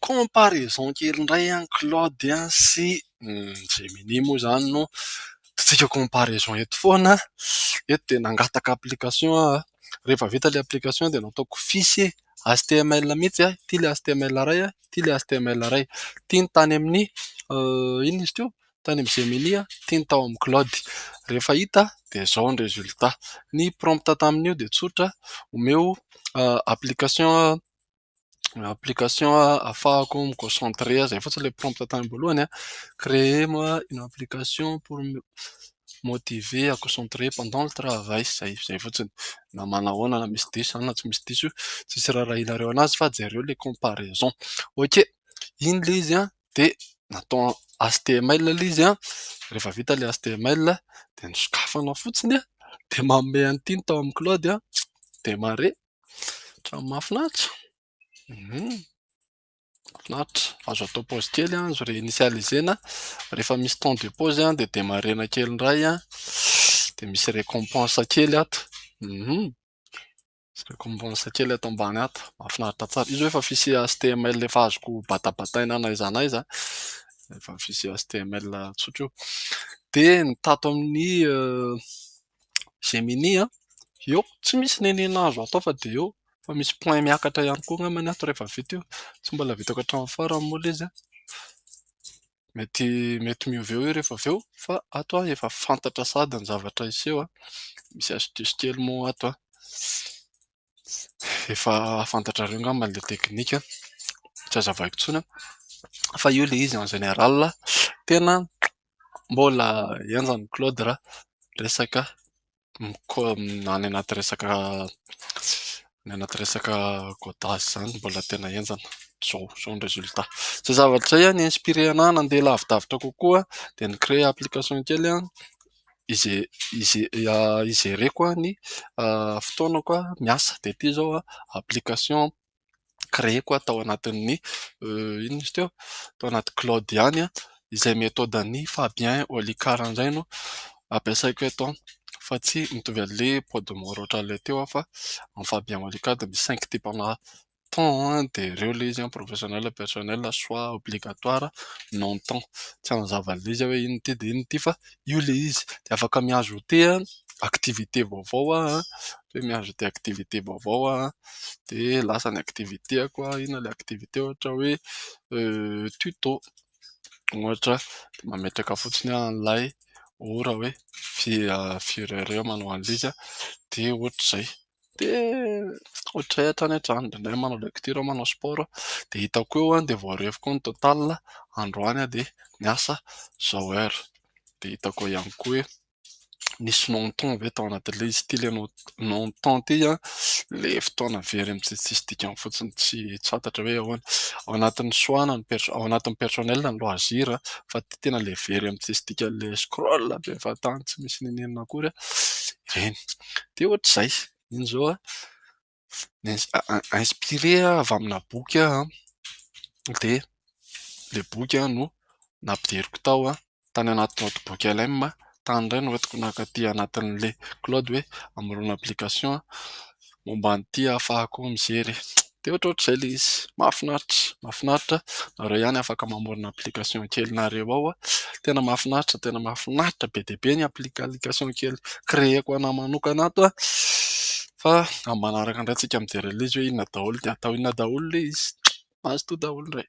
Comparaison kely indray an, Claude an sy Gemini moa izany no totsika comparaison eto foana. Eto dia nangataka application aho, rehefa vita ilay application dia nataoko fiche html mihitsy an, ity ilay html iray, ity ilay html iray. Ity ny tany amin'ny inona izy teo? Tany amin'ny Gemini, ity ny tao amin'ny Claude. Rehefa hita dia izao ny résultat. Ny prompt tamin'io dia tsotra, omeo application. application afahako mi concentrer izay fotsiny ilay prompt tany am-boalohany a, créer moi une application pour me motiver à concentrer pendant le travail, izay izay fotsiny na manao ahoana na misy diso izany na tsy misy diso io tsisy raharahianareo anazy fa jereo ilay comparaison. Ok, iny ilay izy an dia natao html ilay izy an, rehefa vita ilay html dia ny sokafana fotsiny dia manome an'ity ny tao amin'ny cloud dia mahare. Trano mahafinaritra? Mahafinaritra, azo atao pause kely azo reinitialiser-na, rehefa misy temps de pause dia demarrer-na kely indray an, dia misy récompense kely ato, misy récompense kely ato ambany ato, mahafinaritra tsara. Izy hoe efa fichier html efa azoko batabataina na aiza na aiza, efa fichier html tsotra io. Dia ny tato amin'ny Gemini an! Eo tsy misy nenina azo atao fa dia eo fa misy point miakatra ihany koa angambany ato rehefa vita io, tsy mbola vitako hatramin'ny farany moa ilay izy an! Mety mety miova eo rehefa avy eo fa ato aho efa fantatra sahady ny zavatra hiseho an! Misy astuce kely moa ato an! efa fantatrareo angamba ilay teknika, tsy azavaiko intsony fa io ilay izy en général tena mbola henjana i Claude raha resaka mikomy any anaty resaka any anaty resaka codage izany mbola tena henjana izao, izao ny résultat. Izay zavatra izay no ni-inspirer-na nandeha lavidavitra kokoa dia ni-créer application kely aho. ijereko ny fotoanako miasa dia ity izao application créer-ko aho tao anatin'ny inona izy teo ? tao anaty cloud ihany izay metôdan'i Fabien Olicard indray no ampiasaiko eto fa tsy mitovy an'ilay Podmore ohatran'ilay teo aho fa an'i Fabien Olicard dia misy saingy tipa-na. temps an dia ireo ilay izy an professionnel et personnel soit obligatoire non temps tsy hanazava an'ilay izy aho hoe inona ity dia inona ity fa io ilay izy dia afaka mihazo ôté an activité vaovao aho an dia mihazo ôté activité vaovao aho an dia lasa ny activitéko an inona ilay activité ohatra hoe tuto ohatra dia mametraka fotsiny aho an'ilay ora hoe firy heure eo aho manao an'ilay izy an dia ohatr'izay dia ohatran'ny hoe tany an-tranonay dia manao lecture aho manao sport aho, dia hitako eo dia voarery koa ny total androany aho dia niasa zao heure, dia hitako eo ihany koa hoe nisy non temps ve tao anatin'ilay izy ity ilay non temps ity an, ilay fotoana very amin'izay tsisy dikany fotsiny tsy fantatra hoe ahoana, ao anatin'ny choix na ao anatin'ny personnel ny loisir fa ity tena ilay very amin'ny tsisy dikany ilay scroll be fahatany tsy misy n'inon'inona akory an, ireny. dia ohatr'izay iny izao a, inspiré avy amina boky aho dia ilay boky no nampidiriko tao tany anaty not book LM tany indray no entiko naka aty anatin'ilay cloud hoe amoron application momba an'ity ahafahako mijery e. Dia ohatrohatr'izay ilay izy. Mahafinaritra, mahafinaritra. Nareo ihany afaka mamorona application kelinareo ao. Tena mahafinaritra, tena mahafinaritra be dia be ny application kely créer-ko ho anahy manokana ato an. Fa amin'ny manaraka indray isika midera ilay izy hoe inona daholo ny atao, inona daholo ilay izy. Mazotoa daholo indray.